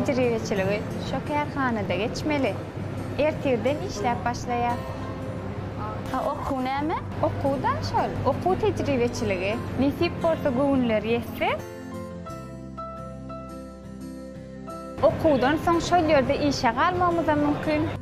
tejribeçiligi şo kärhanada geçmeli. Ertirden işläp başlaýar. Okuw näme? Okuwda şol, okuw tejribeçiligi. Nesip bolsa göwünleri ýetse. Okuwdan soň şol ýerde işe galmagymyzam mümkin.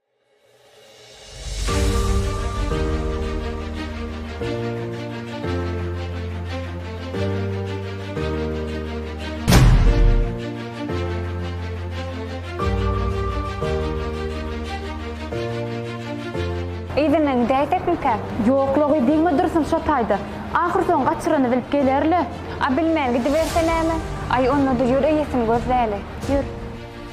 Yzyna gidäýsekmikä? Ýok-logy diýme dursun şo taýda. Ahyrsoňy gaçyrany bilip geler-le. A bilmän gidiberse näme? Aý, onda-da ýör eýesini gözläli. Ýör.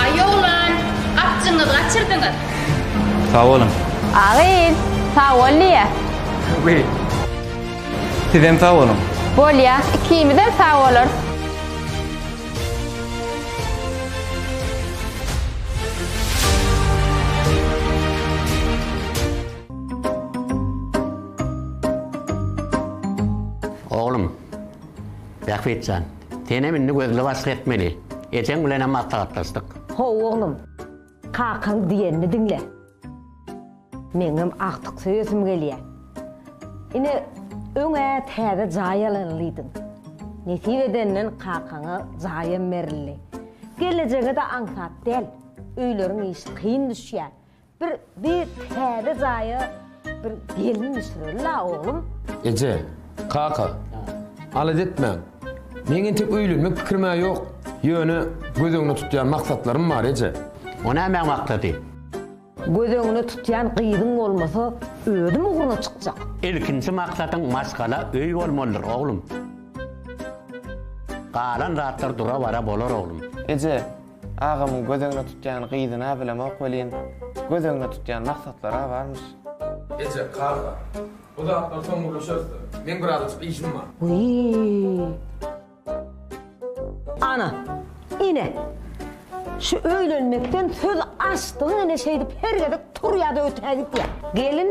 Aý oglan, gapjyňyzy gaçyrdyňyz. Sag boluň. A gyz, sag bol diýýä. Wi. Sizem sag boluň. Bolýa, ikimizem sag bolarys. Oglum, Bähbitjan. Senem indi gözli waspy etmeli. Ejeň bilenem maslahatlaşdyk. How oglum. Kakaň diýenini diňle. Meňem agtyk söýesim gelýä. Ine, öň-ä täze jaý alanlydyň. Nesip edenden kakaňa jaýam berildi. Gelejege-de aňsat däl. Öýleriň işi kyn düşýä. Bir bir täze jaýa bir gelin düşüreli-la, oglum. Eje, kaka, alada etmäň. Meň entek öýlenmek pikirim-ä ýok. Ýöne göz öňüne tutýan maksatlarym bar, eje. O nämäň maksady? Göz öňüne tutýan gyzyň bolmasa, özüm ugruna çykjak. Ilkinji maksadyň maşgala öý bolmalydyr, oglum. Galan zatlar dura-bara bolar, oglum. Eje, Agamyň göz öňüne tutýan gyzyna bilemok welin, göz öňüne tutýan maksatlar-a barmyş. Eje, karga, bu zatlary soň gürleşeris-de. Meň birazajyk işim bar. Wiý! Ana, ine, şu öýlenmekden söz açdygyň ine şeýdip her gezek turýa-da ötägitýä. Gelin,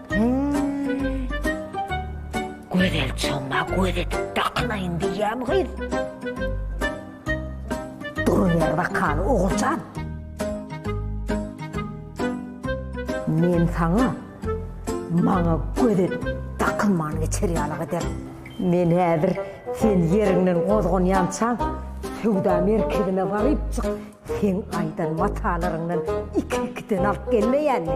Hüýý. Gözel çomma göz edip dakynaýyn diýýämi gyz? Duruber wakaly Oguljan. Men saňa maňa göz edip dakynman geçer ýalyk ederin. Men häzir sen ýeriňden gozganýançaň söwda merkezine barypjyk seň aýdan matalaryňdan iki-ikiden alyp gelmeýänmi?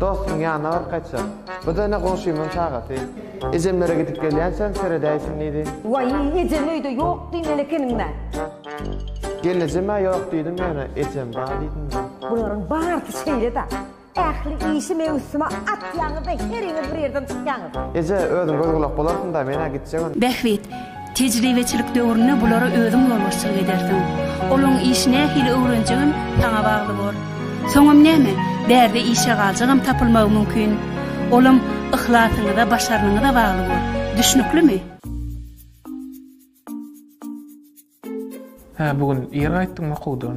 Dostuň ýanyna baryp gaýtjak. Bu da ine goňşymyň çagasy. Ejemlere gidip gelýänçäm seredäýsin diýdi. Waý, ejem öýde ýok diýmeli ekeniň-dä. Gelnejem-ä ýok diýdim ýöne ejem bar diýdim-de. Bularyň barysy şeýle-dä. Ähli işi meň üstüme atýaňyz-da heriňiz bir ýerden çykýaňyz. Eje, özüň göz-gulak bolarsyň-da, men-ä gitjegin. Bähbit, Tejribeçilik döwründe bulara özüň ýolbaşçylyk edersiň. Olaryň işi nähili öwrenjegem saňa bagly bor. Soňam näme, bärde işe galjagam tapylmagy mümkin. Olam yhlasyňyza, başarnygyňyza bagly bor. Düşnüklimi? Hä, bu gün ir gaýtdyňmy okuwdan?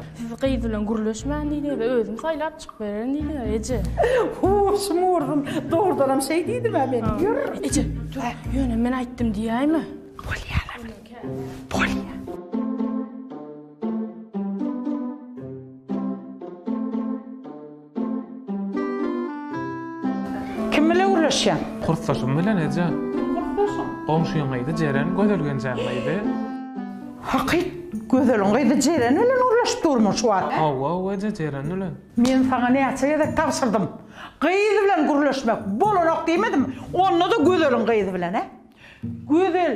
Siz gyz bilen gürleşmäň diýdi we özüm saýlap çykyberen diýdi eje. Huşum urdum. Dogrudanam şeý diýdim-ä men. Ýör. Eje, dur, ýöne men aýtdym diýäýme. Bolýar ata. Bolýar. Kim bilen gürleşýäň? Kursdaşym bilen, eje. Kim kursdaşyň? Goňşyň gyzy Jeren, Gözel Genjäň gyzy. Hakyt, Gözeliň gyzy Jeren bilen gürleşip durmuň şu wagt? Hawa-ow, eje, Jeren bilen. Men saňa näçe gezek tabşyrdym. Gyz bilen gürleşmek bolanok diýmedimmi? Onda-da Gözeliň gyzy bilen-e? Gözel,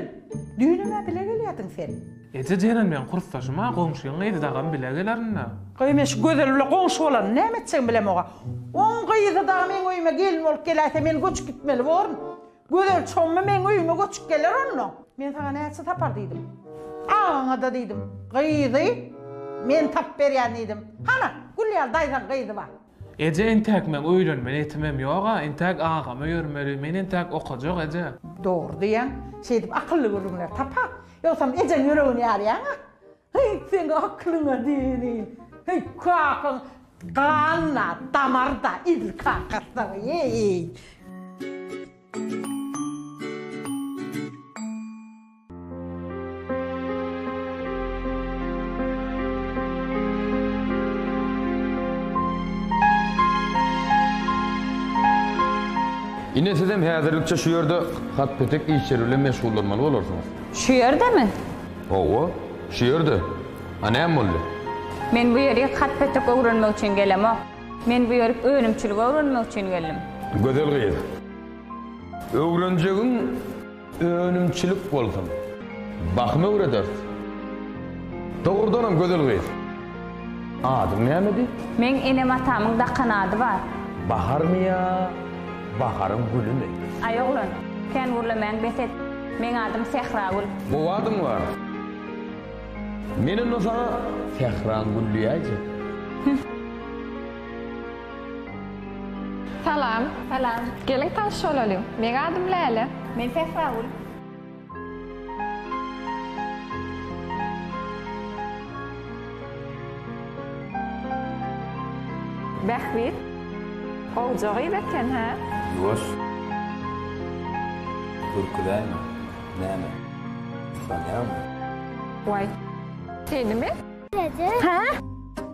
düýnem-ä bile gelýärdiň sen. Eje jeren meň kursdaşym-a, goňşyň gyzy dagam bile gelerin-dä. Gaý, men şu Gözel bile goňşy bolanyn näme etjegimi bilem oga. Oň gyzy dagy meň öýüme gelin bolup geläýse men göçüp gitmeli borun. Gözel çommy meň öýüme göçüp geler onda. Men saňa näçe tapar diýdim. Agaňa-da diýdim, gyzy men tapyp berýän diýdim. Hana, Gülýar daýzaň gyzy bar. Eje entäk meň öýlenme netimem ýoga entäk agama ýörmeli men entäk okajak eje. Dogry diýýäň, şeýdip akylly gürrüňler tapa, ýogsam ejeň ýüregini ýarýaňa. Heý, seň akylyňa diýenin. Heý, kakaň ganyna, damarda edil kakasynyň, heý. Ine sizem häzirlikçe şu ýerde hat petek işleri bilen meşgullanmaly bolarsyňyz. Şu ýerdemi? Hawa, şu ýerde. A näme boldy? Men bu ýerik hat petek öwrenmek üçin gelemok. Men bu ýerik önümçilik öwrenmek üçin geldim. Gözel gyz. Öwrenjegiň. Önümçilik bolsun. Bahym öwrederis. Dogrudanam gözel gyz. Adyň nämedi? Meň enem-atamyň dakan ady bar. Baharmy ýa baharyň gülümi? Aý oglan, kän gürlemäň bes et. Meň adym Sähragül. Gowy adyň bar. Men onda saňa Sähraň gül diýäýjek. Hüh. Salam. Salam. Geliň tanyş bolalyň. Meň adym Läle. Men Sähragül. Bähbit. Gowja gyz eken, hä? Ýuwaş. Ürküzäýme. Näme? Utanýaňmy? Waý. Senimi? Hä?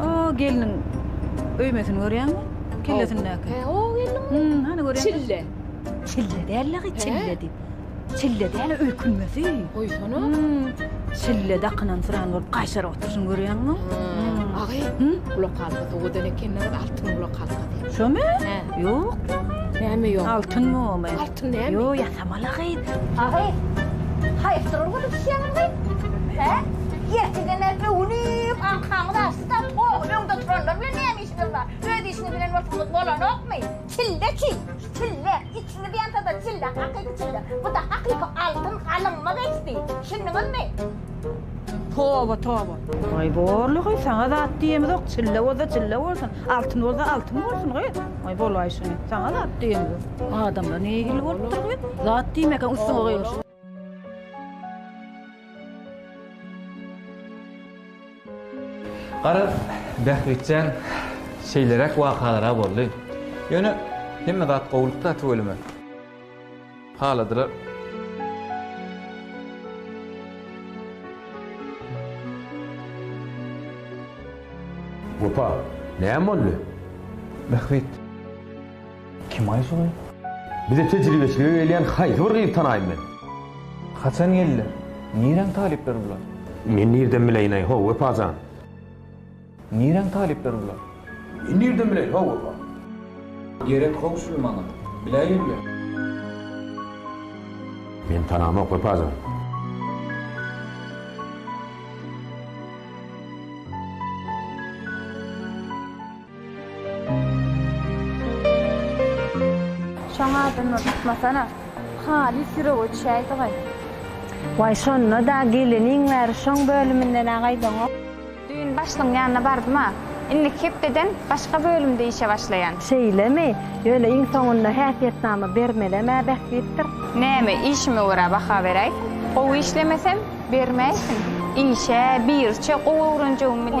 O gelniň öýmesini görýäňmi? Kellesindäki. He, o gelniň. Hmm, hany görýäňmi? Çille. Çille däl-le, gyz, çille diýip. Çille däl, öýkünmesi. Goýsana. Hmm, çille dakynan syran bolup gaýşaryp oturyşyny görýäňmi? Hmm. Agy, hmm? gulak halkasy odan ekeni, altyn gulak halkasy. Şomy? He. Ýok. Näme ýok? Altynmy omy? Altyn näme? Ýok, Tamala gyz! Agy, haýsydyr ol gyzy düşýäňiz gyz? Hä? Ertirden bäri öwünip, aňkaňyz açdy-da, toýuň öňde turanlar bilen näme işiňiz bar? Öz işiňiz bilen bolsaňyz bolanokmy? Çille çig! Çille! Içiňiz ýansa-da çille, hakyky çille. Bu-da hakyky altyn, alynmaz eksdi. Düşündiňizmi? Toba toba. Ay borly goy sana zat diyemizok çille bolsa çille bolsun altın bolsa altın bolsun goy. Ay bolay şunu sana zat diyemizok. Adamlar ne hil bolupdur goy zat diyemek üstüne koyuyor. Garaz Bähbitjan şeýleräk wakalar-a boldy. Ýöne hemme zat gowulykda tüweleme. Haladylar. Wepa, näme boldy? Bähbit. Kim-aý şo gyz? Bize tejribeçilige gelýän haýsy bir gyzy tanaýyn men? Haçan geldiler? Niräň talyplary bular? Men nirden bileýin-aý, ho, Wepa jan? Niräň talyplary bular? Men nirden bileýin ho bolsa. Gerek how şul maňa. Biläýeňle. Men tanamok Wepajan. Şoň adyndan tutmasana. Halys ýürege düşäýdi-gay. Way şonda-da geleniň bäri şoň bölüminden-ä gaýdaňok. Düýn başlygyň ýanyna bardym-a. Indiki hepdeden başga bölümde işe başlaýan. Şeýlemi? Ýöne iň soňunda häsiýetnama bermelem-ä bähbitdir. Näme, işime görä baha beräýsin. Gowy işlemesem, bermäýsin. Işe birçe gowy öwrenjegim bilen.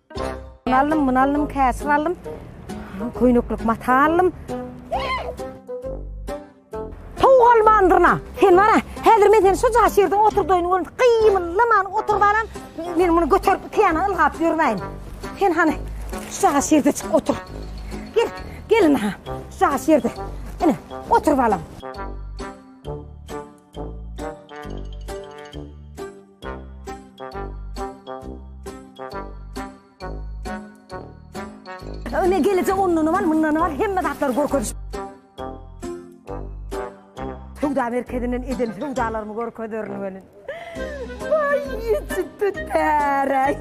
Şuny aldym, muny aldym, käşir aldym. Köýneklik mata aldym. Towuk almandyrna. Sen bara, häzir men seni şuja şerde oturdaýyn görün. Gymyllaman oturyp alam. Men muny göterip iki ýana ylgap ýörmäýin. Sen hany şuja şerde çyk otur. Gel, gelin ha. Şuja şerde. Ine, oturyp alam. Öne gelecek ondan var, bundan var, hemme zatlar görkeziş. Sevda merkezinden edin sevdalarımı görkezerin benim. Vay, yetip tut pere.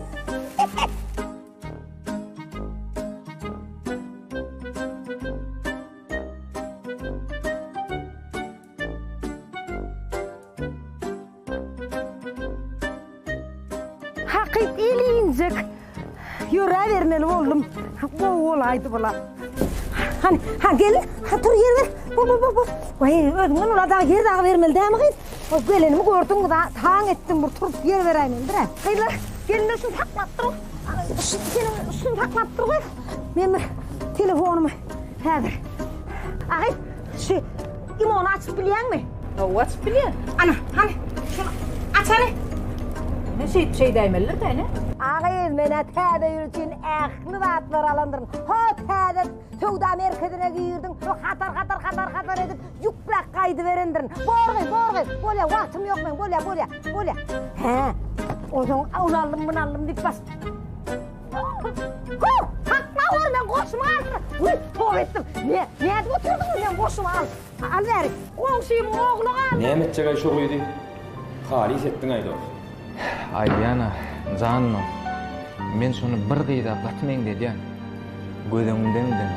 Hakyt ilinjek ýöräbermeli boldum. Gowy bolaýdy bula. Han, ha gel, ha tur ýer ber. Bu, bu, bu, bu. Waý, özüňden ula dag ýer dagy bermeli dämi gyz? O gelenimi gördüň, da taň etdim, bir turup ýer beräýmelidir-ä. Gyzlar, gelin öşüni saklap dur. Şu seniň üstüňi saklap dur gyz. Men bir telefonymy häzir. Agyz, Şu limony açyp bilýäňmi? Hawa, açyp bilýän. Ana, hany, şuny açaly. Ne şeýt şeý däýmelidir da, ene? Agyz, men-ä täze ýyl üçin ähli zatlary alandyryn. Hot, täze söwda merkezine girdim. Şo hatar-hatar, hatar-hatar edip ýükläp gaýdyberendirin. Borgy, borgy, bolýa, wagtym ýok meň, bolýa, bolýa, bolýa. Hä, onsoň ony aldym, muny aldym diýip bas. Näme etjek-aý şo gyzy? Halys etdiň-aý dos. Aýdýan-a, janymam. Men şony bir gyza gaty meňzedýän. Göz öňümdemi diňe.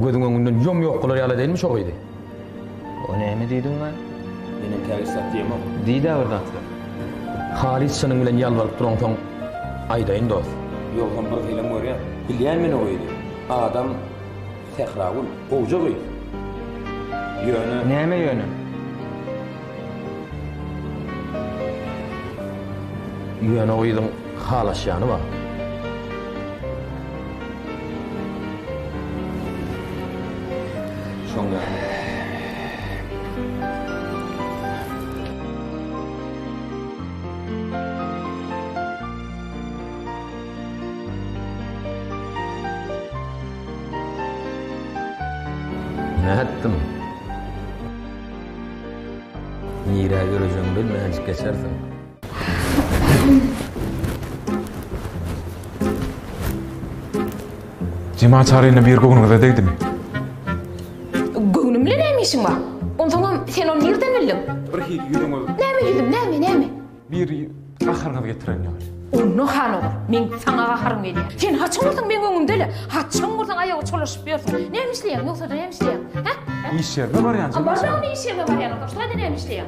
Gözüň öňünden ýom-ýok bolar ýaly dälmi şo gyzy? O näme diýdiň maňa? Men entägit satýamok. Diý-dä bir zat. Halys çynyň bilen ýalbaryp duraňsoň, aýdaýyn dost. Ýogsam bir hylam görýän. Bilýän men o gyzy. Adam Sähragül. Gowja gyz. Ýöne. Näme ýöne? Ýöne o gyzyň. Halaşýany bar. Şoň Nätdim? Nirä ýörejegiňi bilmänjik geçersiň. Jema çaryny bir göwnüňize degdimi? Göwnüm bilen näme işiň bar? Onsoňam sen ony nirden bildiň? Bir hil ýüzüňiz. Näme ýüzüm, näme, näme? Bir gaharyňyzy getiren ýaly. Onda han olar. Men saňa gaharym gelýär. Sen haçan bolsaň meň öňümde-le. Haçan bolsaň aýaga çolaşyp ýörsüň. Näme işleýäň, ýogsa-da näme işleýäň? Hä? Iş ýerime barýan. Barsaň onda iş ýerime barýan, onsoň şularda näme işleýäň?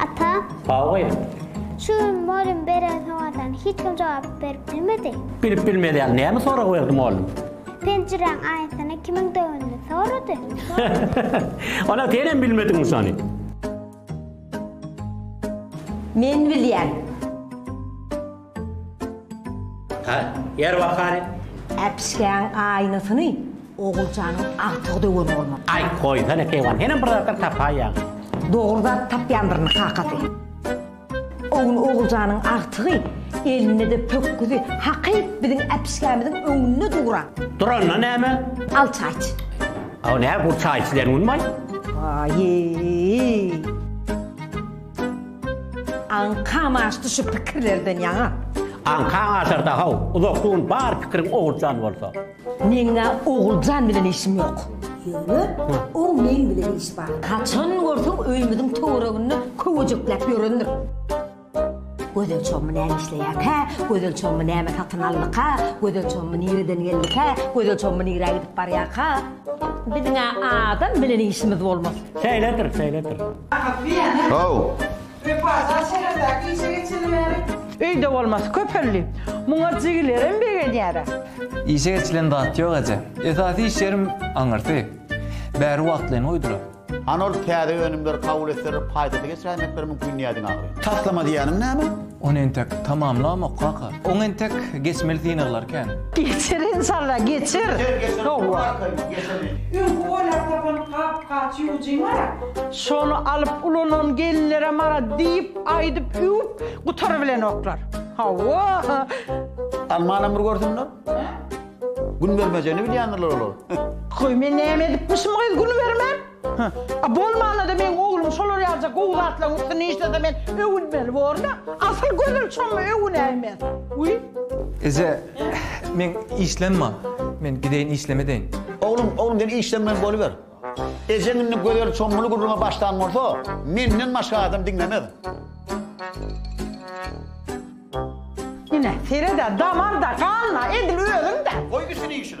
Ata. Haoýy. Şu gün mugallym beren sowallaryna hiç kim jogap berip bilmedi. Bilip bilmez ýaly näme sorag berdim oglum? Penjiräň aýnasyny kimiň döwenini sorady. Ana senem bilmediňmi şony? Men bilýän. Hä, ýer bakany. Äpişgäň aýnasyny Oguljanyň agtygy döwen bolmaly. Aý, goýsana Keýwan, senem bir zatlar tapaýýaň. Dogry zat tapýandyryn, kakasy. O gün Oguljanyň agtygy elinde-de pökgüzi hakyt biziň äpişgämiziň öňünde duran. Duranda näme? Al çaý iç. Aw, nä, bu çaý içilen günmi-aý? Aýýýy! Aňkam aşdy şu pikirlerden ýaňa. Aňkaň aşar da-haw, uzakly gün bar pikiriň Oguljan bolsa. Meň-ä Oguljan bilen işim ýok. Ýöne, oň meň bilen işi bar. Haçan görseň öýümiziň töwereginde köwejekläp ýörendir. Gözel çommy näme işleýärkä? Gözel çommy näme satyn aldyka? Gözel çommy nireden geldikä? Gözel çommy nirä gidip barýarka? Biziň-ä adam bilen işimiz bolmaz. Şeýledir, şeýledir. Ahat diýýän-ä. How. Wepajan şäherdäki işe geçeli bäri. Öýde bolmasy köpeldi. Muňa jigilerim begenýär-ä. Işe geçilen zat ýok eje. Esasy iş ýerim aňyrsy. Bäri wagtlaýyn goýdular. Anor täze önümleri kabul etseler paýdasy geçiräýmekleri mümkin diýýär diňe agry. Taslama diýýäniň näme? Ony entek tamamlamok kaka. Oň entek geçmeli synaglar kän. Geçer enşalla geçer. Geçer geçer Howwa. Öňki oýlap tapan gap gaç ýuwujyňara. Şony alyp ulanan gelinlere mara diýip aýdyp üwüp gutarybilenoklar. Howwa. Almanam bir görsünler. Gün bermejegini bilýändirler olar. Goý men näme edipmişim gyz gün bermän? Hä? A bolmanda-da meň oglum şolar ýalyja gowy zatlaryň üstünde işlese men öwünmeli borun-a. Asyl gözel çomma öwünäý men. Uý. Eje, meň işlem bar. Men gideýin işleme deýin. Oglum, oglum sen işlem bilen boluber. Ejeň indi gözel çommuly gürrüňe başlan bolsa, menden başga adam diňlemez. Ine, seret-ä, damar-da, gan-da, edil özüň-dä! Goý işini işine!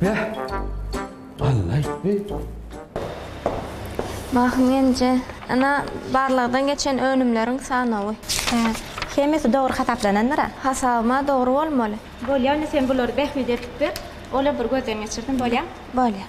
Beh! Alla aýtdy. Mahym Genje, Ene, barlagdan geçen önümleriň sanawy. Hä. Hemmesi dogry hasaplanandyr-a? Hasabym-a dogry bolmaly. Bolýar, indi sen bulary Bähbide edip ber, ol-a bir gözden geçirsin, bolýamy? Bolýar.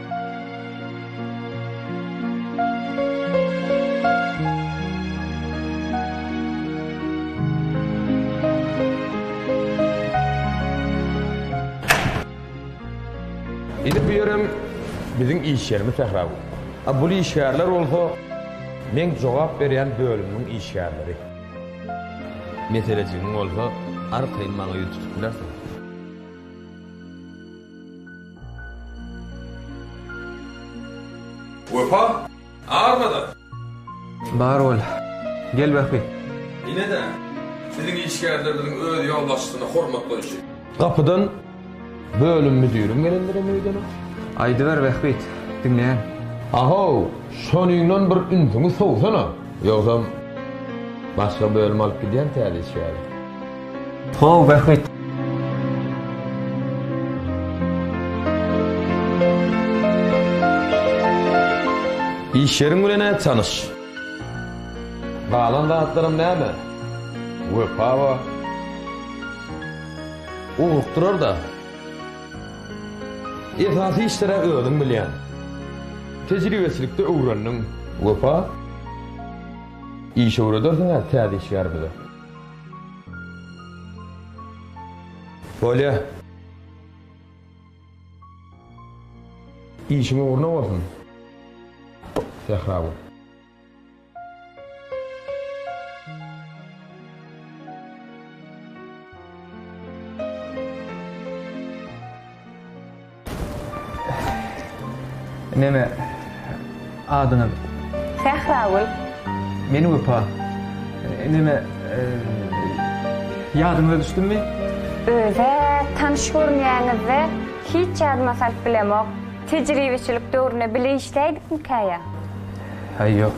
Indi bu ýerem biziň iş ýerimiz sähra bu. A bul işgärler bolsa meň jogap berýän bölümimiň işgärleri. Meselejigiň bolsa arkaýyn maňa ýüz tutup bilersiň. Wepa, armada! Bar bol. Gel bähbit. Ine-de, siziň işgärlerimiziň öz ýolbaşçysyna hormat goýşy. Gapydan bölüm müdiriň gelendigem öýdene. Aýdyber, bähbit, diňleýän. A-how, şonyňdan bir ünsüňi sowsana, ýogsam, başga bölüm alyp gidýän täze işgäri. How rehmet. Iş ýeriň bilen-ä tanyş. Galan zatlaram näme? Wepa bar. Ugrukdyrar-da. Esasy işler-ä özüň bilýäň. Tejribesilikde öwrendiň. Wepa, iş öwredersiň-ä täze işgärimize. Bolýa. Işiň ugruna bolsun. Sährabo. Neme adyňyz? Sähragül. Men Wepa. Neme ýadyňyza düşdümmi? Özä tanyş görünýäňizde hiç ýadyma salyp bilemok. Tejribeçilik döwründe bile işläýdikmikä ýa? Haý ýok.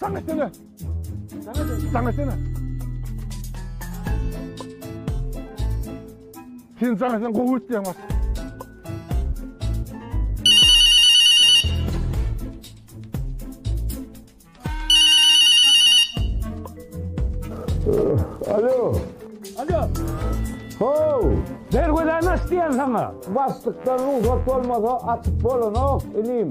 Saň etsene. Saň etsene. Sen saň etsene gowy etýäň bak. Alo. Alo. Ho. Bergöden aç diýen saňa. Basdykdan ruhsat bolmasa açyp bolanok inim.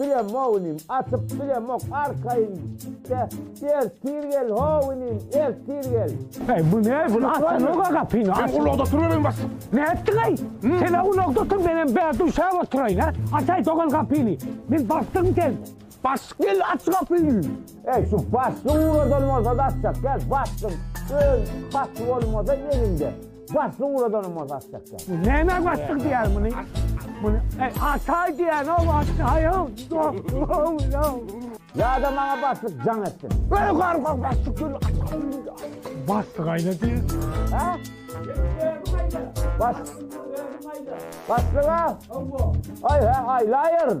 Bile mog inim, atyp bilemok arkaýyn de, ertir gel how inim, ertir gel. Äý, bu näme, bu açsana-ka gapyny, aç. Sen ulagda turberýin bas. Nätdiň-eý? Sen-ä ulagda otur, menem bärde üşäp oturaýyn, hä? Aç-aý, dogan gapyny. Men basdym sen. Bas, gel, aç gapyny. Äý, şu basdy ugradan bolsa-da açjak, gel, basdym. Öz basdy bolmasa eliňde. Baslyň uradanam o zat çekýär. Bu näme baslyk diýýär muny? Muny e, ataý diýýän o ataýam. Ýa-da maňa baslyk jaň etsin. Böyle garga baslyk gül. Baslyk aýda diýýär. Ha? Bas. Baslyga. Aý, aýlaýaryn.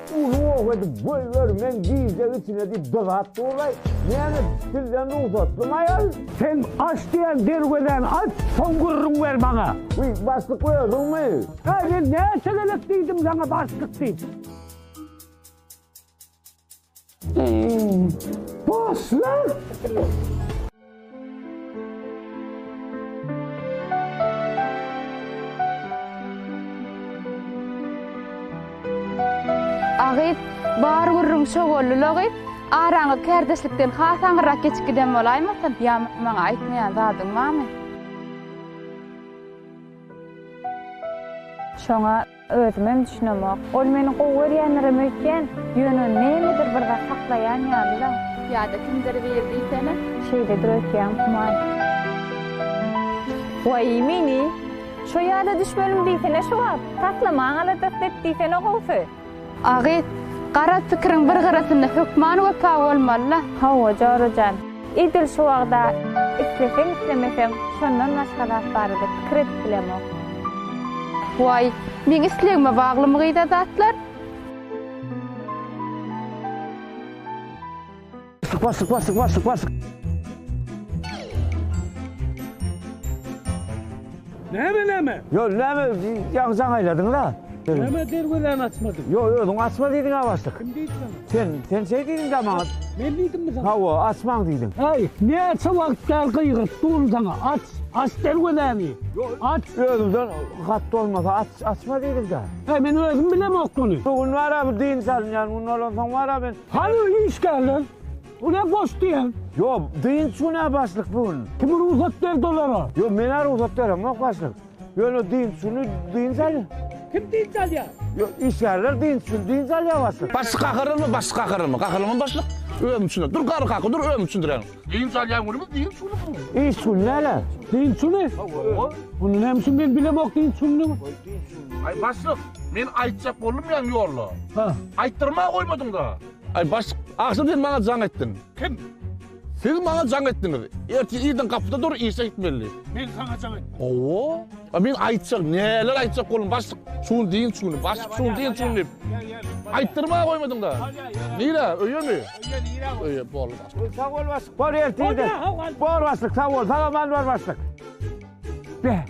Uly ow edip goýber men gijä içine diýip dyzap duraý. Näme sizden rugsatlymy aýal? Sen aç diýen derwezäni aç, soň gürrüň ber maňa. Wiý, başlyk özüňmi? Äý, men näçe gezek diýdim saňa başlyk diýip. Başla! Agyz, Bar gürrüň şo-gollula gyz, araňyz kärdeşlikden has aňyrrak geçip giden bolaýmasyn? Ýa maňa aýtmaýan zadyň barmy? Şoňa. Özümem düşünemok. Ol meni gowy görýändirem öýtýän, ýöne nämedir bir zat saklaýan ýaly-la. Ýa-da kimdir biri diýsene. Şeýledir öýtýän human. Waý, meni şo ýada düşmenim diýsene şo wagt. Taslamaň aladasy et diýsene gowusy. A gyz, garaz pikiriň bir gyrasynda hökman wepa bolmaly-la. Hawa, Jora jan. Edil şu wagt-a isleseň-islemeseň şondan başga zat barada pikir edip bilemok. Waý, meň islegime baglymy gyz-a zatlar? Sypa, sypa, sypa, sypa, sypa. Näme näme? Yo näme ýaňy jaň aýladyňyz a? Näme derwezäni açmadyň? Yo özüň açma diýdiň a başlyk. Kim diýdi sana? Sen, sen şeý diýdiň da maňa. Men diýdimmi sana? Hawa, açmaň diýdiň. Aý, näçe wagt bäri gygyryp durun saňa, aç, aç derwezäni. Aç. Özüňden hat bolmasa aç, açma diýdiň da. Aý men özüm bilemok muny. Bu gün bar a bu dynç alynýan gün bolansoň bar a men. Hany işgärler? Bu ne boş diyen? Yo dynç güne başlyk bu gün. Kim rugsat berdi olara? Yo mena rugsat beremok başlyk. Yöne dynç güni dynç al. Kim dynç alya? Yo işgärler dynç güni dynç alya başlyk. Başlyk gahyrylmy başlyk gahyrylmy gahyrylmy başlyk? Özüm üçin dur gary kaky dur özüm üçin duran. Dynç alyan günümiz dynç güni bu. Iş güni nele? Dynç güni? Bunu nem üçin men bilemok dynç gününi. Ay başlyk men aytjak boldum yan yolla. Ha. Ayttırma koymadın da. Aý baş, agşam sen maňa jaň etdiň. Kim? Siz maňa jaň etdiňiz. Ertir irden gapyda dur, işe gitmeli. Men saňa jaň etdim. Hawa. A men aýtjak, näler aýtjak bolum baş, şu gün diýin şu gün, baş, şu gün diýin şu gün diýip. Aýtdyrma goýmadyň da. Nire, öýe mi? Öýe nire? Öýe, boldy. Sag bol baş. Bol ertir. Bol baş, sag bol. Salam bar baş. Be!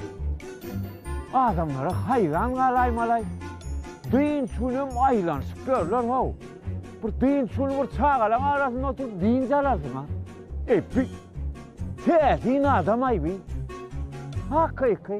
Adamlara haýran galaýmalaý. Dynç günem aýlanyşyp ýörler-how. Bir dynç güni bir çagalaň arasynda oturyp dynç alarsyň-a. Eý, pi! Täsin adam-aý bi. Hakyky.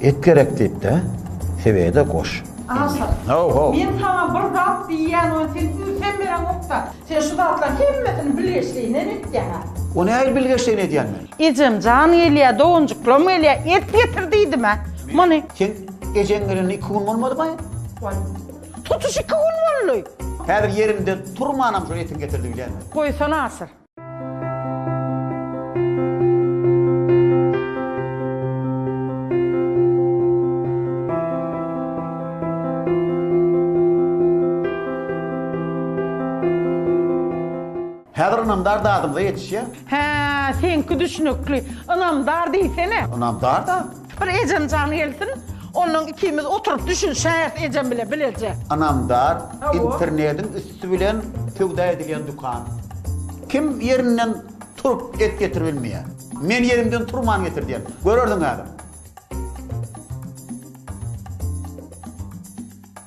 Et gerek diýip-de, sebede goş. Aşyk. Ho-ho. Men saňa bir zat diýýän we sen ünsem bereňok-da. Sen şu zatlaryň hemmesini bilgeşleýinden etýäň-ä. O nähili bilgeşleýin edýän men? Ejem jan gelýä, doganjyklam gelýä, et getir diýdim-ä. Muny. Seň ejeň gelenine iki gün bolmadymaý? Goý. Tutuş iki gün boldy. Häzir ýeriňden turmanam şol etiň getir diýilýärmi? Goýsana Aşyr. Häzir ynamdar dadymyza ýetişýär. Hä, seňki düşnükli. Ynamdar diýsene. Ynamdar-da. Bir ejem jany gelsin, onnoň ikimiz oturyp düşünişäýeris ejem bilen bileje. Ynamdar internediň üsti bilen söwda edilýän dukan. Kim ýerinden turup et getirip bilmeýär. Men ýerimden turman getirdýän. Görersiň häzir.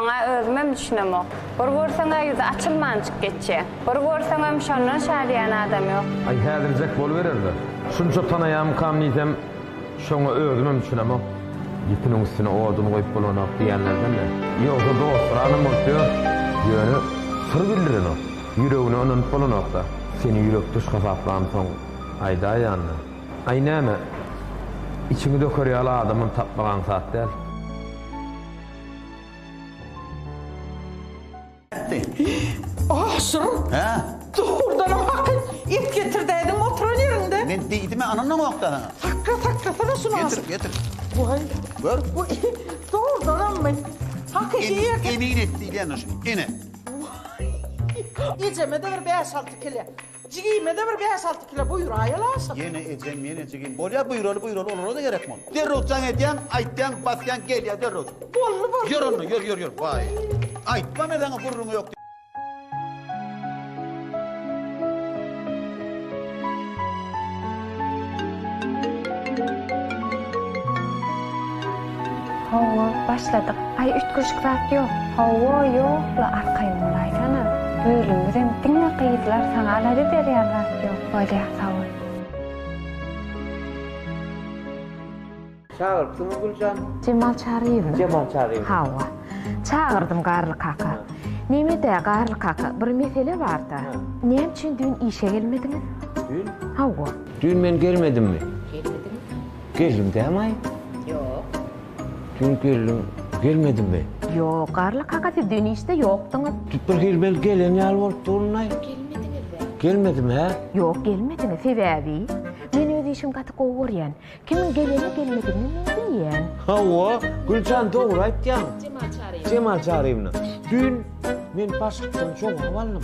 Oňa özümem düşünemok. Bir görseň-ä ýüzi açylmanjyk geçýä. Bir görseňem şondan şadyýan adam ýok. Aý häzirjek boluberer-de. Şunça tanaýamykam diýsem, şoňa özümem düşünemok. Ýüpüniň üstüne odun goýup bolanok diýýänlerden-le. Ýogsa dostlaram bolup ýör. Ýöne syr bildirenok. Ýüregine ynanyp bolanok-da. Seni ýürekdeş hasaplamsoň, aýdaýan-da. Aý näme, içiňi döker ýaly adamam tapmak aňsat däl. Ah, Şirin! Hä? Dogrudanam hakyt, et getirdäýdiň oturan ýeriňde. Men diýdimä, ynandyňok da saňa. Sakga, sakgasana şuny asyl. Getir, getir. Waý. Gör. Bu dogrudanammy? Hakyky et. Emin et diýilýändir şuny. Ine. Waý. Ejeme-de bir bäş-alty kile. Jigime-de bir bäş-alty kilo buýraýaly aşyk. Ýene ejem, ýene jigim. Bolýa, buýraly, buýraly, olara-da gerek mol. Derrew jaň edýäň, aýtýaň, basýaň, gelýä derrew. Boldy, boldy. Ýör onda, ýör, ýör, ýör. Waý. Aýtma men saňa gürrüň ýok diýip. Hawa, başladyk. Aý üýtgeşik zat ýok. Hawa, ýok-la arkaýyn bolaýsana. Bölümimizem diňe gyzlar, saňa alada berýän zat ýok. Bolýa, sag bol. Çagyrtdyňmy Güljan? Jemal Çaryýewmi? Jemal Çaryýew. Hawa. Çagyrdym Garly kaka. Neme-dä, Garly kaka, bir mesele bar-da. Näme üçin düýn işe gelmediňiz? Düýn? Hawa. Düýn men gelmedimmi? Gelmediňizmi? Geldim dämaý? Ýok. Dün geldim, gelmedimmi? Ýok, Garly kaka siz dün işde ýokdyňyz. Tut bir hili bel gelen ýaly bolup durundaý. Gelmediňizmi? Gelmedim hä? Ýok gelmediňiz, sebäbi men öz işimi gaty gowy görýän. Kimiň geleni gelmedigini men bilýän. Hawa, Güljan dogry aýtýaň. Jemal Çaryýewna. Dün men başlykdan jogap aldym.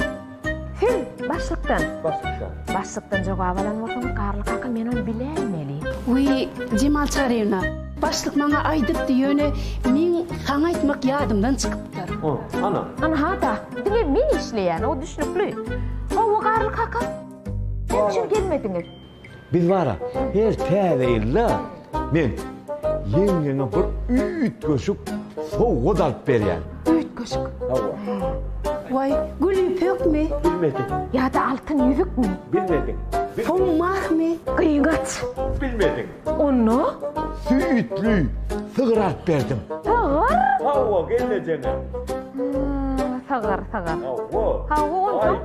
Siz başlykdan. Başlykdan. Başlykdan jogap alan bolsaňyz Garly kaka men ony biläýmeli. Wiý, Jemal Çaryýewna, başlyk maňa aýdypdy, ýöne meň saňa aýtmak ýadymdan çykypdyr. O, ana. Ana ha-da, diňe men işleýän, o düşnükli. Hawa, Garly kaka. Näme üçin gelmediňiz? Biz bara her täze ýylda men ýeňňeňe bir üýtgeşik sowgat alyp berýän. Üýtgeşik? Hawa. Waý, gül ýüpekmi? Bilmedim. Ýa-da altyn ýüzükmi? Bilmedim. Soň mahmy? Gyýgaç? Bilmedim. Onda? Süýtli sygyr alyp berdim. Sygyr? Hawa, gelnejeňe. Sygyr, sygyr. Hawa. Hawa, onda?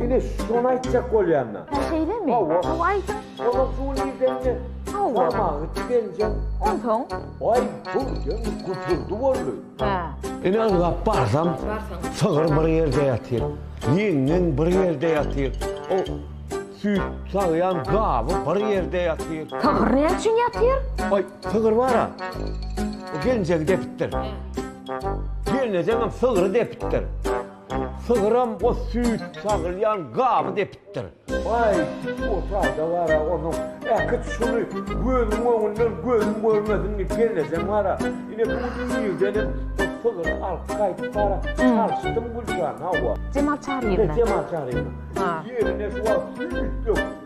Ine şony aýtjak bolýanda. Hä şeýlemi? Hawa. Hawa aýdyň. Olar suwy nirdenje? Hawa. Barmagy tikenjeň. Onsoň? Aý birden güpürdi boldy. Hä. Ine ylgap barsam. Barsaň. Sygyr bir ýerde ýatyr. Ýeňňeň bir ýerde ýatyr. O süýt sagýan gaby bir ýerde ýatyr. Sygyr näme üçin ýatyr? Aý sygyr bar-a. O gelinjegi depipdir. Hä. Gelnejeňem sygry depipdir. Sygram o süýt sagylýan gaby depipdir. Baý, o sada bar-a onuň. Äkit şuny gözüň öňünden gözüm görmesin diýip gelnejem bar-a. Ine, bu gün irdenem bir sygyr alyp gaýdyp bar-a. Çalyşdym Güljan, hawa. Jemal Çaryýewna. He, Jemal Çaryýewna. Ýerine şu wagt süýt döküp.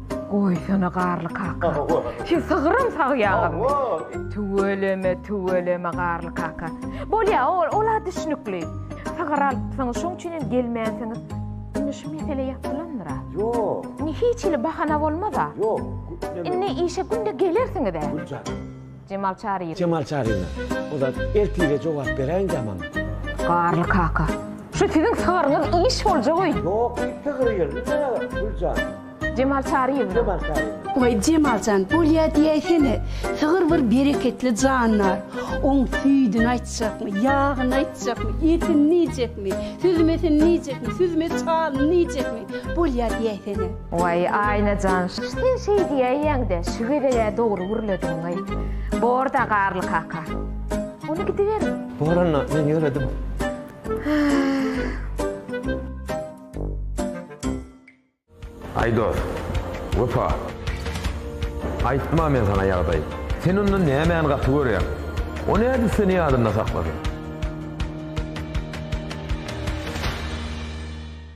Goýsana Garly kaka. Sen sygyram sagýaňmy? Tüweleme, tüweleme Garly kaka. Bolýa, ol-a düşnükli. Sygyr alypsyňyz, şoň üçin hem gelmänsiňiz. Indi şu mesele ýapylandyr-a? Ýok. Indi hiç hili bahana bolmaz-a? Ýok. Indi işe günde gelersiňiz-ä? Güljan. Jemal Çaryýew. Jemal Çaryýew. Bu zat ertire jogap beräýindi ýa maňa. Garly kaka. Şu siziň sygyryňyz iş boljagy. Ýok, iki gyr ýerli näme, Güljan? Jemal Çaryýew. Jemal Çaryýew. Waý Jemaljan bolýa diýäýsene, sygyr bir bereketli jandar, oň süýdüni aýtjakmy, ýagyny aýtjakmy, etini iýjekmi, süzmesini iýjekmi, süzme çalyny iýjekmi, bolýa diýäýsene. Waý Aýnajan sen şeý diýäýýäňdä şu gezegä dogry gürlediňaý. Borda Garly kaka. Ony gidiberiň. Bor onda men ýöredim. Aý dos. Wepa. Aýtma men sana ýagdaý. Sen onda nämäni gaty görýäň. O nädip seni ýadynda saklasyn.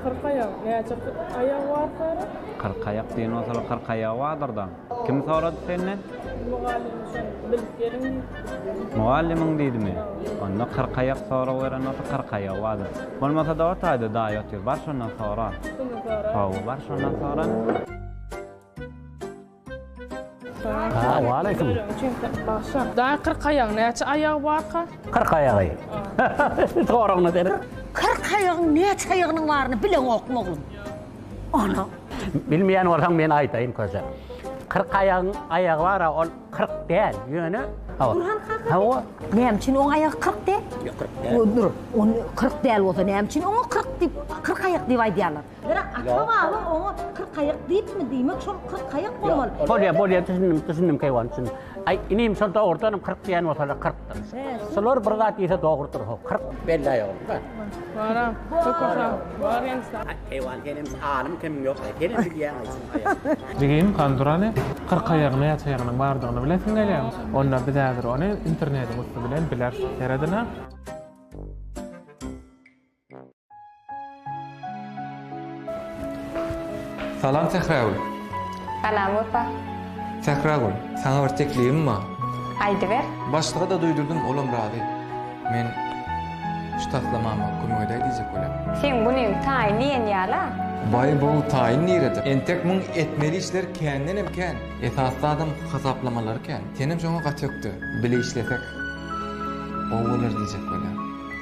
Kyrkaýak näçe aýagy bar Sara? Kyrkaýak diýen bolsalar kyrk aýagy bardyr-da. Kim sorady senden? Mugallym sen bilip geliň diýdi. Mugallymyň diýdimi? Onda kyrkaýak sorag beren bolsa kyrk aýagy bardyr. Bolmasa-da o taýda daýy otyr. Bar şondan sora. Kimden soraýyn? Hawa, bar şondan sora. Salam. Waleýkim. Daýy kyrk aýagyň näçe aýagy barka? Kyrk aýagy. Soragyna serin. Kyrk aýagyň näçe aýagynyň baryny bileňokmy oglum? Ana. Bilmeýän bolsaň men aýdaýyn köze. Kyrk aýagyň aýagy bar-a, ol kyrk däl, ýöne. Burhan kaka. Hawa. Näme üçin oň aýagy kyrk däl? Ýok, kyrk däl. Dur, ony kyrk däl bolsa näme üçin oňa kyrk diýip, kyrk aýak diýip aýdýarlar? Bira ata-baba oňa kyrkaýak diýipmi diýmek, şol kyrkaýak bolmaly. Bolýar, bolýar, düşündim, düşündim keýwan, düşündim. Aý, inim, şol dogrudanam kyrk diýen bolsalar kyrkdyr. Şolar bir zat diýse dogrudyr, ho, kyrk. Bellaý ogly, bar. Bara, köküsa, bar ýaňsa. Aý, keýwan, senem alym kimiň ýok, aý, senem bilýäň, aý, şuny, aý. Jigim, Kandurany kyrkaýagyny ýasaýanyň bardygyny bilesiň gelýäň. Onda biz häzir ony internetiň üsti bilen bileris. Seredin-ä. Salam Sähragül. Salam Wepa. Sähragül, saňa bir teklibim bar. Aýdyber. Başlyga-da duýdurdym, olam razy. Men şu taslamama kömek edäý diýjek bolýan. Seň günüň taýyn diýen ýala. Baý bu taýyn nirede? Entek muň etmeli işler kändenem kän. Esas zadam hasaplamalary kän. Senem şoňa gaty ökde. Bile işlesek gowy bolar diýjek bolýan.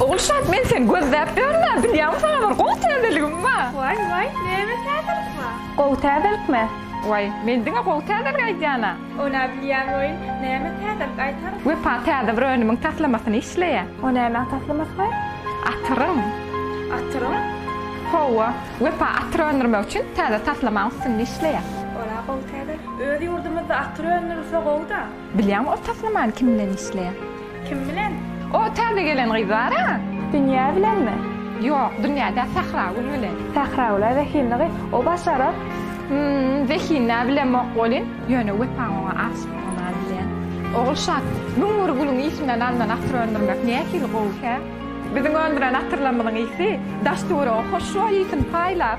Ogulşat men seni gözläp ýörünä bilýäňmi saňa bir gowy täzeligim bar. Waý waý näme täzelik bar. Gowy täzelikmi? Waý men diňe gowy täzelik aýdýana. Onä bilýän boýun näme täzelik aýtar? Wepa täze bir önümiň taslamasyny işleýär. O nämäň taslamasy boýun? Atyryň. Atyryň? Howwa. Wepa atyr öndürmek üçin täze taslamaň üstünde işleýär. Ol-a gowy täze. Öz ýurdumyzda atyr öndürilse gowy-da. Bilýäňmi ol taslamany kim bilen işleýär? Kim bilen? O täze gelen gyz bar-a. Dünýä bilenmi? Ýok, Dünýä däl, Sähragül bilen. Sähragül-ä zehinli gyz. O başarar. Hum, zehinli-ä bilemok welin, ýöne wepaň oňa aşykdygyny-a bilýän. Ogulşat, müň bir gülüň ysyndan alnan atyr öndürmek nähili gowy, hä? Biziň öndüren atyrlarymyzyň ysy daş-töwerege hoşboý ysyn paýlap.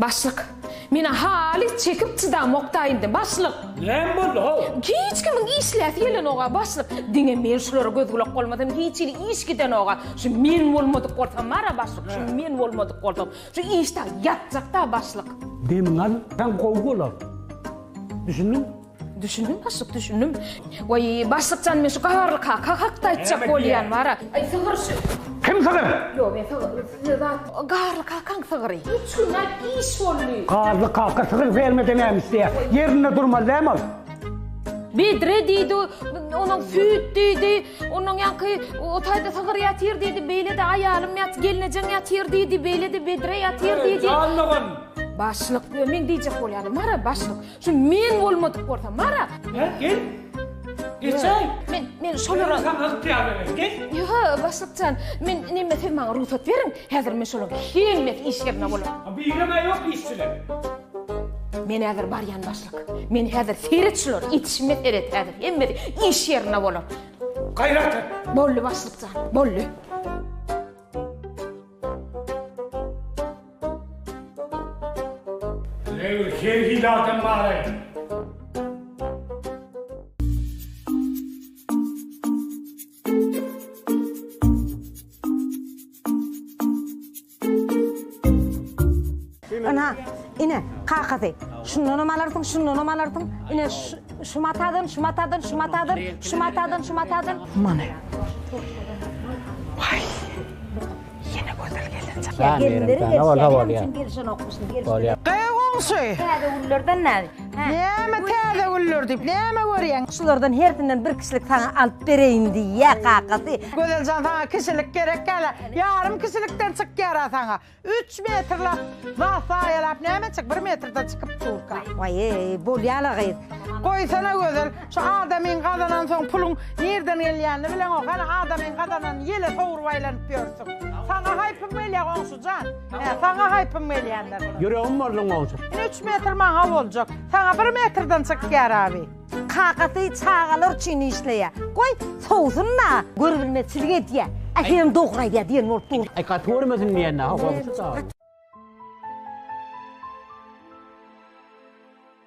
Başlyk, menä halys çekip çydamokda indi, başlyk! Näme boldy, how? Hiç kimiň işläsi gelenok-a, başlyk. Diňe men şulara göz-gulak bolmasam, hiç hili iş gidenok-a. Şu men bolmadyk bolsam bar-a, başlyk, şu men bolmadyk bolsam, şu iş dagy ýatjak-da, başlyk. Demiňi al, sen gowy bolar. Düşündiňmi? Düşündim başlyk, düşündim. Waý, başlyk jan, men şu Gaharly kaka hakda aýtjak bolýan bara. Aý, sygyr şu. Kim sygyr? Ýok, men sygyr, size zat. Gaharly kakaň sygyry. Üç gün aýt iş boldy. Gaharly kaka sygyr fermede näme isleýär? Ýerinde durmaly dämi ol? Bedre diýdi, onuň süýt diýdi, onuň ýaňky o taýda sygyr ýatyr diýdi, beýle-de aýalym ýat, gelnejeň ýatyr diýdi, beýle-de bedre ýatyr diýdi. Jan dogan. Başlyk, men diýjek bolýan, Mara başlyk. Şu men bolmadyk bolsa, Mara. He, gel. Geçäý. Men, men şolara... Sen alyp ýaly, gel. Ýo, başlykjan, men neme siz maňa rugsat beriň, häzir men şolar hemmesi işlerine bolar. Ha, bireme ýok işçiler. Men häzir barýan başlyk. Men häzir seret şolar, ýetişime seret häzir, hemmesi iş ýerine bolar. Gaýrat et. Bolly başlykjan, bolly. Her hili adam bar-aý. Ynha, ine, kakasy. Şundanam alarsyň, şundanam alarsyň. Ine, şu matadan, şu matadan, şu matadan, şu matadan, şu matadan. Many. Waý. Ýene gözel gelinjek. Ýa gelinleri gelişýär. Gygy goňşy! Täze güllerden näme? Näme täze güller diýip, näme görýäň? Şulardan hersinden bir kişilik saňa alyp bereýin diýýär kakasy. Gözeljan saňa kişilik gerek däl-ä. Ýarym kişilikden çykýar-a saňa. Üç metrläp zat zaýalap näme etjek? Bir metrden çykyp durka. Waýy, bolýa-la gyz. Goýsana gözel. Şu adamyň gazanan soň puluň nirden gelýänini bileňok hany adamyň gazananyny ýele sowrup aýlanyp ýörsüň. Saňa haýpym gelýä goňşujan. Hä saňa haýpym gelýändir. Ýüregim bolduň goňşy. Ine üç metr maňa boljak. Saňa bir metrden çykýar abi. Kakasy çagalar üçin işleýä. Goý sowsun da. Görübilmezçilik edýä. Ähliňem dogry aýdýa diýen bolup dur. Aý gaty görmesin diýenä ha goňşy sag.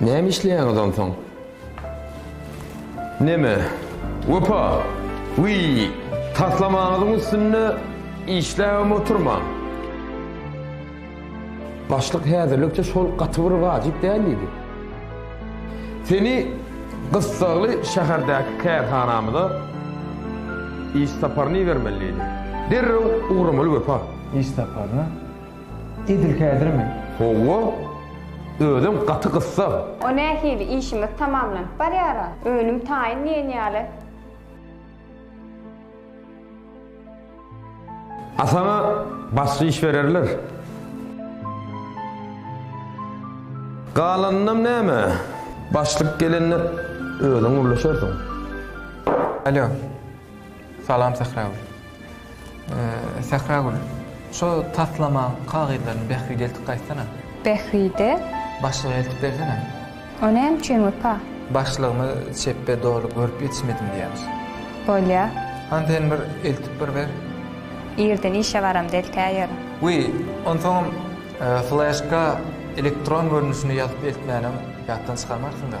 Näme işleýäňiz onsoň? Neme? Wepa! Wiý! Taslamaňyzyň üstünde işläbem oturmaň! Başlyk häzirlikçe şol gaty bir wajyp däl diýdi. Seni gyssagly şäherdäki kärhanamyza iş saparyna ibermeli diýdi. Derrew ugramaly Wepa! Iş saparyna? Edil häzirmi? Howwa. Özem gaty gyssag. O nähili? Işimiz tamamlanyp barýar-a. Önüm taýyn diýen ýaly. A saňa başga iş bererler. Galanynam näme? Başlyk gelende özüň gürleşersiň. Alo. Salam Sähragül. Sähragül, şo taslamaň kagyzlaryny Bähbide eltip gaýtsana. Bähbide? Başlyga eltip bersene. O näme üçin Wepa? Başlygymyz çepbe doly görüp ýetişmedim diýýämiş. Bolýar. Hany sen bir eltip bir ber. Irden işe baramda eltäýerin. Wiý, onsoňam fleşka elektron görnüşinde ýazyp eltmänem ýatdan çykarmarsyň-da.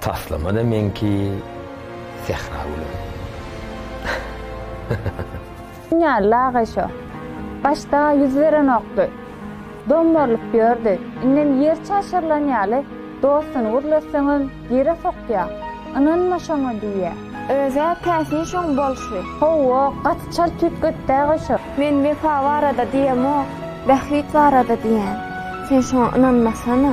Taslamada meňki sähra gülüm. Ýaly aga şo. Başda ýüz berenokdy. Dommarylyp ýördi. Indem ýer çaşyrylan ýaly dostuny gürletseňem ýere sokýa. Ynanma şoňa diýýä. Özä täsin şoň bolşy. Howwa gaty çalt tüýtgetdäga şo. Men Wepa barada diýemok, Bähbit barada diýýän. Sen şoňa ynanmasana.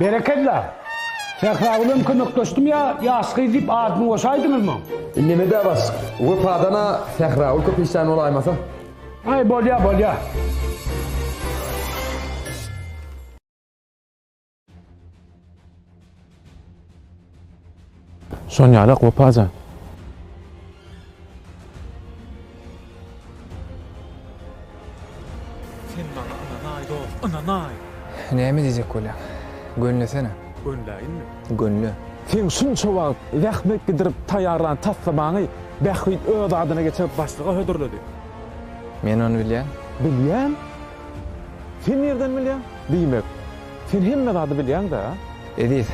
Berekella! Sähragülem kömekleşdim ýa ýaş gyz diýip adyny goşaýdyňyzmy? Nemede bas wepadana Sähragül köp işlän bolaýmasa. Aý bolýa bolýa. Şon ýalak Wepa jan. Sen maňa ynanaý dost, ynanaý. Näme diýjek bolýaň? Gönlesene. Gönläýinmi? Gönle. Sen şunça wagt zähmet gidirip taýýarlan taslamaňy Bähbit öz adyna geçirip başlyga hödürledi. Men ony bilýän. Bilýän? Sen nirden bilýäň? Diýmek. Sen hemme zady bilýäň-dä. Eziz,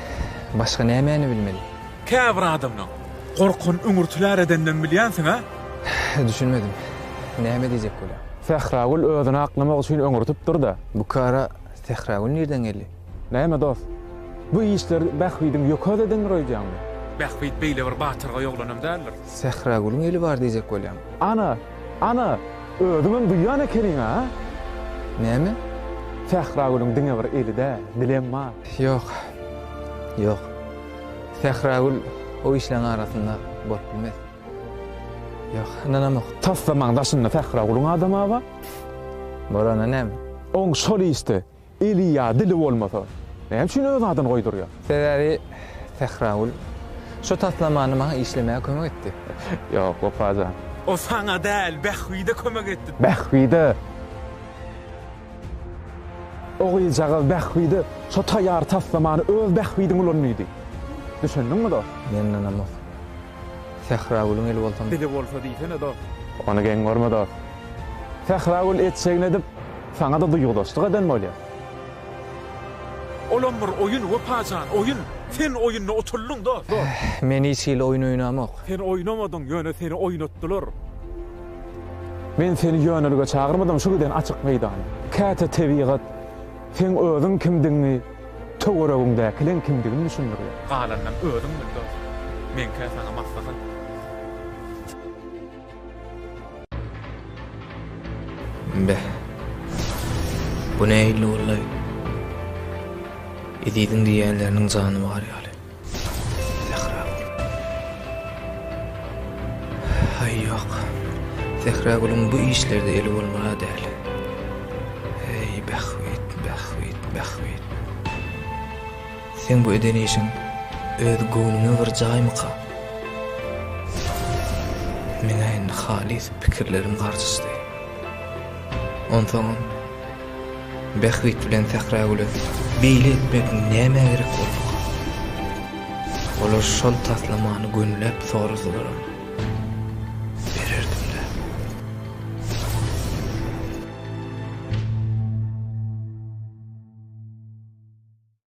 başga nämäni bilmeli? Käbir adamlaň gorkan üňürtiler edendem bilýänsiň-ä? Düşünmedim. Näme diýjek bolýaň? Sähragül özüni aklamak üçin öňürtipdir-de. Bu kara Sähragül nirden geldi? Näme dost? Bu işleri Bähbidiň ýökäsi edendir öýdýäňmi? Bähbit beýle bir batyrgaý oglanam däldir. Sähragülüň eli bar diýjek bolýaň? Ana! Ana, özüňem duýýan ekeniň-a? Näme? Sähragülüň diňe bir eli-dä, dilem bar. Ýok. Ýok. Sähragül o işleriň arasynda bolup bilmez. Ýok, ynanamok. Taslamaň daşynda Sähragülüň adamy-a bar. Bolanda näme? Oň şol işde Eli ýa dili bolmasa, näme üçin öz adyny goýdurýar? Sebäbi Sähragül şu taslamany maňa işlemäge kömek etdi. Ýok, Wepa jan. O saňa däl, Bähbide kömek etdi. Bähbide? O gyzjagaz Bähbide şo taýýar taslamany öz bähbidiň ulandydy. Düşündiňmi dost? Men ynanamok. Sähragülüň eli bolsam. Size bolsa diýsene dost. Ony geň görme dost. Sähragül etjegini edip, saňa-da duýgudaşlyk eden bolýar. Olam bir oýun, Wepa jan, oýun. Sen oýunda otuldyň dost, dost. Men hiç hili oýun oýnamok. Sen oýnamadyň, ýöne seni oýnatdylar. Men seni ýönelige çagyrmadym şu giden açyk meýdana. Käte tebigat seň özüň kimdigiňi. Töweregiňdäkileň kimdigini düşündirýär. Galanynam özüň bil dost. Meňkä saňa maslahat. Beh. Bu nähili bollaý? Eziziň diýýänleriniň jany bar ýaly. Haý ýok. Sähragülüň bu işlerde eli bolmana däl. Heý, bähbit, bähbit, bähbit. Seň bu eden işiň öz göwnüňe bir jaýmyka? Meň-ä indi halys pikirlerim garşyşdy. Onsoňam. Bähbit bilen Sähragüle beýle etmek nämä gerek bolupka? Olar şol taslamany gönüläp sorasalaram, bererdim-dä.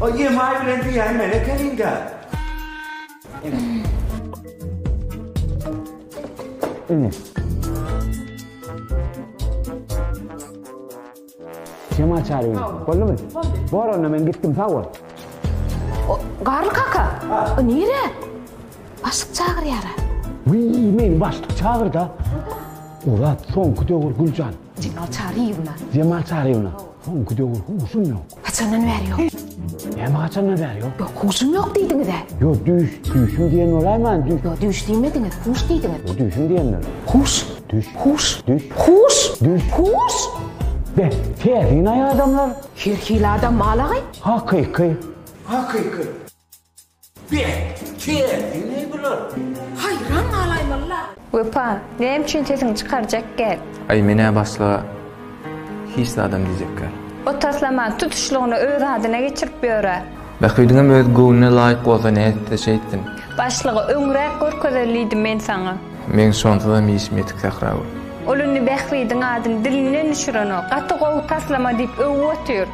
Oý emaý bilen diýýän men ekenin dä. Ine. Kim açar öýni? Boldumy? Bor onda men gitdim sag bol. O, Garly kaka. O nire? Başlyk çagyrýar. Wiý, meni başlyk çagyrda. Ulat, soňky döwür Güljan. Jemal Çaryýewna. Jemal Çaryýewna. Soňky döwür huşum ýok. Haçandan bäri ýok? Näme haçandan bäri ýok? Ýok, huşum ýok diýdiňiz-ä? Ýok, düýş, düýşüm diýen bolaýman, düýş. Ýok, düýş diýmediňiz, huş diýdiňiz. Ýok, düýşüm diýendim. Huş. Düýş. Huş. Düýş. Huş. Düýş. Huş. Be, täsin-aý adamlar. Her hili adam mal-aý. Hakyky. Hakyky. Beh, kerdi ne bular? Haýran galaýmaly-la. Wepa, näme üçin sesiňi çykarjak gel. Aý menä başga hiç zadam diýjek gel. O taslaman tutuşlygyny öz adyna geçirip ýör-ä. Bähbidiňem öz göwnüne laýyk bolsa nätse şeýtsin. Başlygy öňräk görkezelidim men saňa. Meň şonsuzam işim ýetik Sähragül. Ol indi Bähbidiň adyny dilinden düşürenok. Gaty gowy taslama diýip öwüp otyr.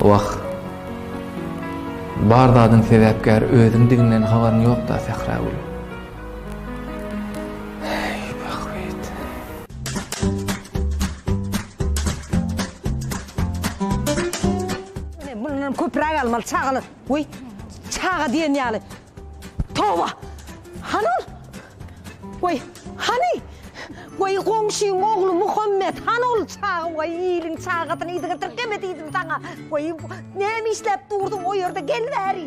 Wah! Bar zadyň sebäpkäri özüňdiginden habaryň ýok-da, Sähragül. Köpräk almaly çagalar. Weý, çaga diýen ýaly Toba! Hany ol? Goý, hany? Goý, goňşyň ogly Muhammet, hany ol çaga? Waý, iliň çagasyny yzy getir, geme diýdim saňa. Goý, näme işläp durdyň o ýerde, gel bäri.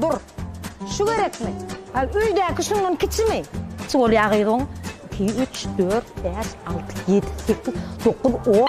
Dur. Şu gerekmi? Al öýdäki şundan kiçimi? Kiçi bolýa gyz oň. Iki, üç, dört, bäş, alty, ýedi, sekiz, dokuz, on.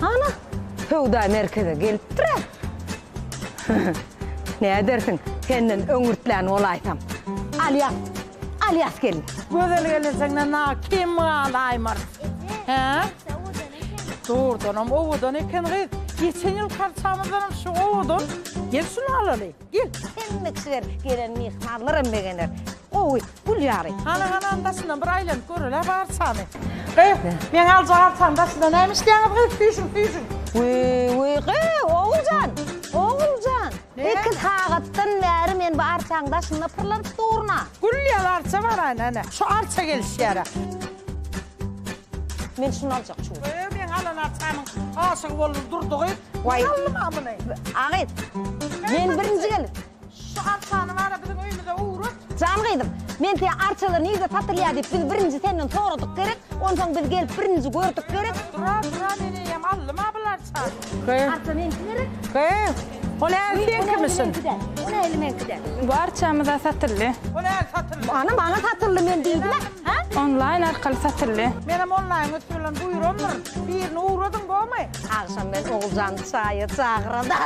Ana, söwda merkeze gelipdir-ä. Nädersiň, senden öňürtlän bolaýsam. Alýas, Alýas gelin. Gözel gelin senden na kim galy Aýmar? Hä? Dogrudanam owadan eken gyz. Geçen ýyl karçamyzdanam şu owadan. Gel şuny alaly. Gel, hemme içer, gelen myhmanlaram begener. Gowy, gül ýaly. Hany, hany, hany, daşyndan bir aýlanyp göreli-hä barçany. Gyz, meň aljak arçanyň daşynda näme işleýäňiz, gyz, süýşüň, süýşüň. Wiý, wiý, gyz, Oguljan, Oguljan, iki sagatdan bäri men bu arçaň daşynda pyrlanyp durun-a. Gül ýaly arça baraýyn, hany, şu arça gelişýär-ä. Men şuny aljak çuň. Öýe meň alan arçamyň aşygy boldum durdy gyz. Waý. Alym a muny. A gyz. Men birinji gelip. Şu arçany bara biziň öýümize ugrat. Jan gyzym. Men size arçalar nirde satylýa diyip biz birinji senden soradyk gerek. Onsoň biz gelip birinji gördük gerek. Dura dura men eýem aldym a bul arçany. Arça meňki gerek. Ol äl seňkimisin. Ol äl meňkiden. Bu arçamyza satyldy. Ol äl satyldy. Ana maňa satyldy men diýdim. Hä? Onlaýn arkaly satyldy. Menem onlaýn üsti bilen buýramdyr. Birini ugradyň bomy? Agşam men Oguljany çaýa çagyrada.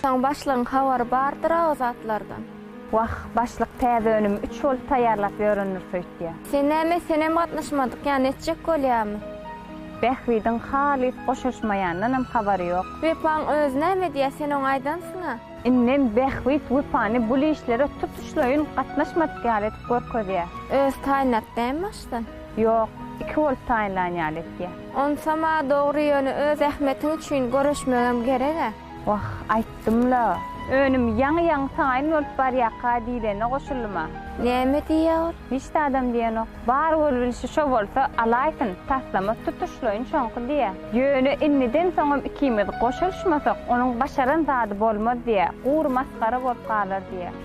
Soň başlygyň habary bardyr-a o zatlardan. Wah, başlyk täze önümi üç bolup taýýarlap ýörendir söýtýä. Sen näme, senem gatnaşmadyk ýa netjek bolýamy? Bähbidiň halys goşaşmaýandanam habary ýok. Wepaň özi näme diýýä, sen oňa aýdansyň-a? Indem Bähbit Wepany bul işlere tutuşlaýyn gatnaşmadyk ýaly edip görkezýä. Özi taýynlap dämi başdan? Ýok, iki bolup taýynlan ýaly etýä. Onsam-a dogry, ýöne öz zähmetiň üçin göreşmegem gereg-ä. Wah, aýtdym-la, önüm ýaňy-ýaňy taýyn bolup barýarka diýlene goşuldym-a. Näme diýýär? Hiç zadam diýenok. Bar bolubilşi şo bolsa, alaýsyn, taslama tutuşlaýyn şoňky diýýär. Ýöne indiden soňam ikimiz goşulyşmasak, onuň başaran zady bolmaz diýýär, gury masgara bolup galar diýýär.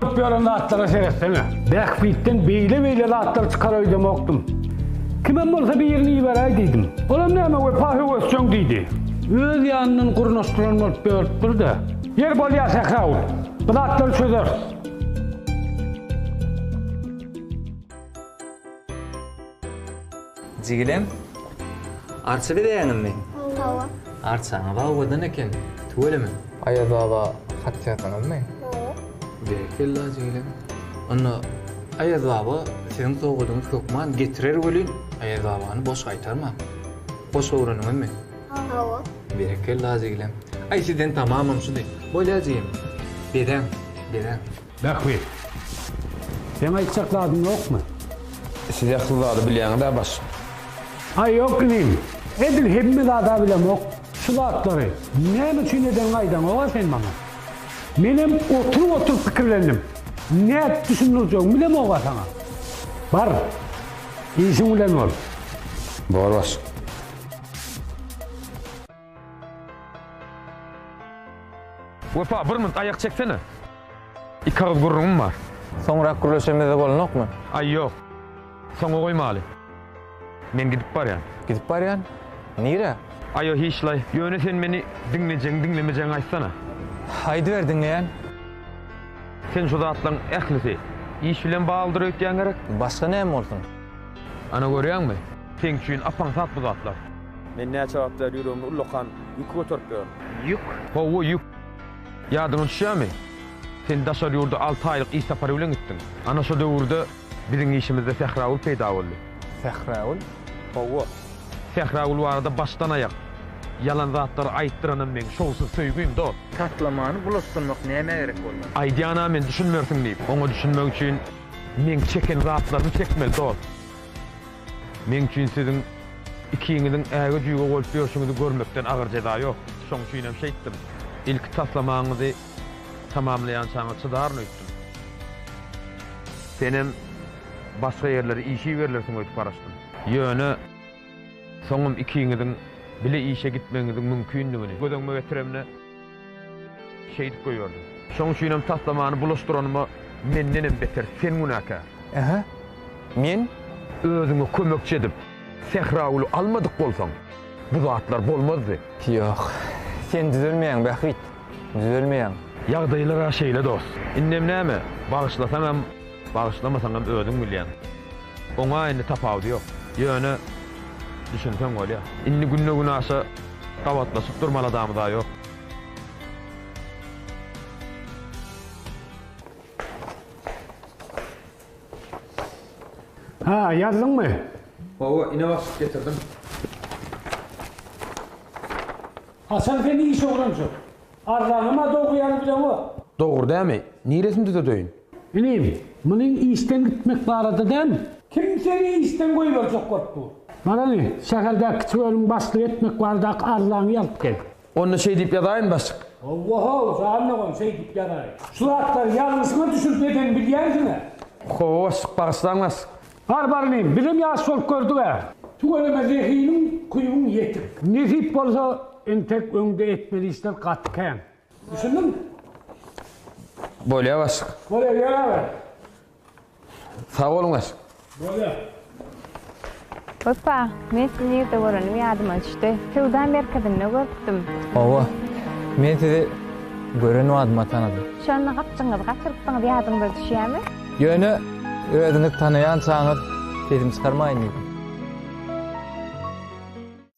Köp ýören zatlara seretsene. Bähbitden beýle-beýle zatlar çykar öýdemokdym. Kimem bolsa birini iberäý diýdim. Olam näme wepa höwesjeň diýdi. Öz ýanyndan gurnaşdyran bolup ýörüpdir-de. Ýeri bolýar Sähra ul. Bu zatlary çözeris. Jigilem, arça bezäýeňizmi? Hawa. Arçaňyz owadan eken, tüweleme. Aýaz baba hat ýazdyňyzmy? Hawa. Berekella, jigilem. Onda Aýaz baba siziň sowgadyňyzy hökman getirer welin, Aýaz babany boş gaýtarmaň. Goşgy öwrendiňizmi? Hawa. Berekella, jigilem. Aý, sizden tamamam şudy. Bolýar, jigim. Bezäň, bezäň. Bähbit. Seň aýtjak zadyň ýokmy? Siz ähli zady bilýäňiz-ä başym. Aý ýok inim. Edil hemme zad-a bilemok. Şu zatlary näme üçin edeniňi aýdaňok-a sen maňa. Menem oturyp-oturyp pikirlendim. Nädip düşündirjegimi bilemok-a saňa. Bar, işiň bilen bol. Bor başym. Wepa, bir minut aýak çeksene. Iki agyz gürrüňim bar. Soňrak gürleşemizde bolanokmy? Aý, ýok. Soňa goýmaly. Men gidip barýan. Gidip barýan? Nirä? Aýo, hiçlaý. Ýöne sen meni diňlejegiň-diňlemejegiň aýtsana. Aýdyber, diňleýän. Sen şu zatlaryň ählisi iş bilen baglydyr öýtýäň gerek? Başga näme bolsun? Ana görýäňmi? Seň üçin ap-aňsat bu zatlar. Men näçe wagtlar ýüregimi ullakan ýük göterip ýörün. Ýük? Hawa, ýük. Ýadyňa düşýärmi? Sen daşary ýurda alty aýlyk iş sapary bilen gitdiň. Ana şo döwürde biziň işimizde Sähragül peýda boldy. Sähragül? Hawa. Sähragül barada başdan-aýak ýalan zatlary aýtdyranym meň şowsuz söýgim, dost. Taslamany bulaşdyrmak nämä gerek boldy? Aýdýan-a men düşünmersiň diýip. Oňa düşünmek üçin. Meň çeken zatlarymy çekmeli dost. Meň üçin siziň ikiňiziň äge-jüge bolup ýörşüňizi görmekden agyr jeza ýok. Şoň üçinem şeýtdim. Ilki taslamaňyzy tamamlaýançaňyz çydaryn öýtdüm. Senem başga ýerlere işe iberilirsiň öýdüp garaşdym. Ýöne soňam ikiňiziň bile işe gitmegiňiziň mümkindigini göz öňüme getiremde. Şeýdip goýberdim. Şoň üçinem taslamany bulaşdyranyma mendenem beter sen günäkär. Ähä. Men? Özüňe kömekçi edip Sähragüli almadyk bolsaň, bu zatlar bolmazdy. Ýok. Sen düzelmeýäň, Bähbit. Düzelmeýäň. Ýagdaýlar-a şeýle dost. Indem näme? Bagyşlasaňam. Bagyşlamasaňam özüň bilýäň. Oňa indi tapawudy ýok. Ýöne, düşünseň bolýar. Indi günde-günaşa gabatlaşyp durmaly adamy-da ýok. Ha, ýazdyňmy? Hawa, ine başlyk, getirdim. Hasan, sen iş oglanjyk. Arzaňam-a dogry ýaly bileňok. Dogry dämi? Niresini düzedeýin? Inim, munyň işden gitmek barada däl. Kim seni işden goýberjek bolup dur? Bar ine, şäherdäki kiçi bölümi başlygy etmek baradaky arzaňy ýazyp gel. Onda şeý diýip ýazaýyn, başlyk. Hawa-haw, jan dogan, şeý diýip ýazaýyn. Şu zatlary ýalňyşyňa düşürip edeni bilýänsiň-ä? Hawa, başlyk, bagyşlaň, başlyk. Bar, bar, inim, bizem ýaş bolup gördük-ä. Tüweleme zehiniň, kuýuň ýetik. Nesip bolsa, entek öňde etmeli işler gaty kän. Düşündün? Bolýa başyk. Bolýa ýör aga. Sag boluň başyk. Bolýa. Hopa, men sizi nirde görenim ýadyma düşdi. Söwda merkezinde görüpdim. Hawa. Men sizi gören badyma tanadym. Şonda gapjygyňyzy gaçyrypdyňyz ýadyňyza düşýämi? Ýöne özüňiz tanaýançaňyz sesimi çykarmaýyn diýdim.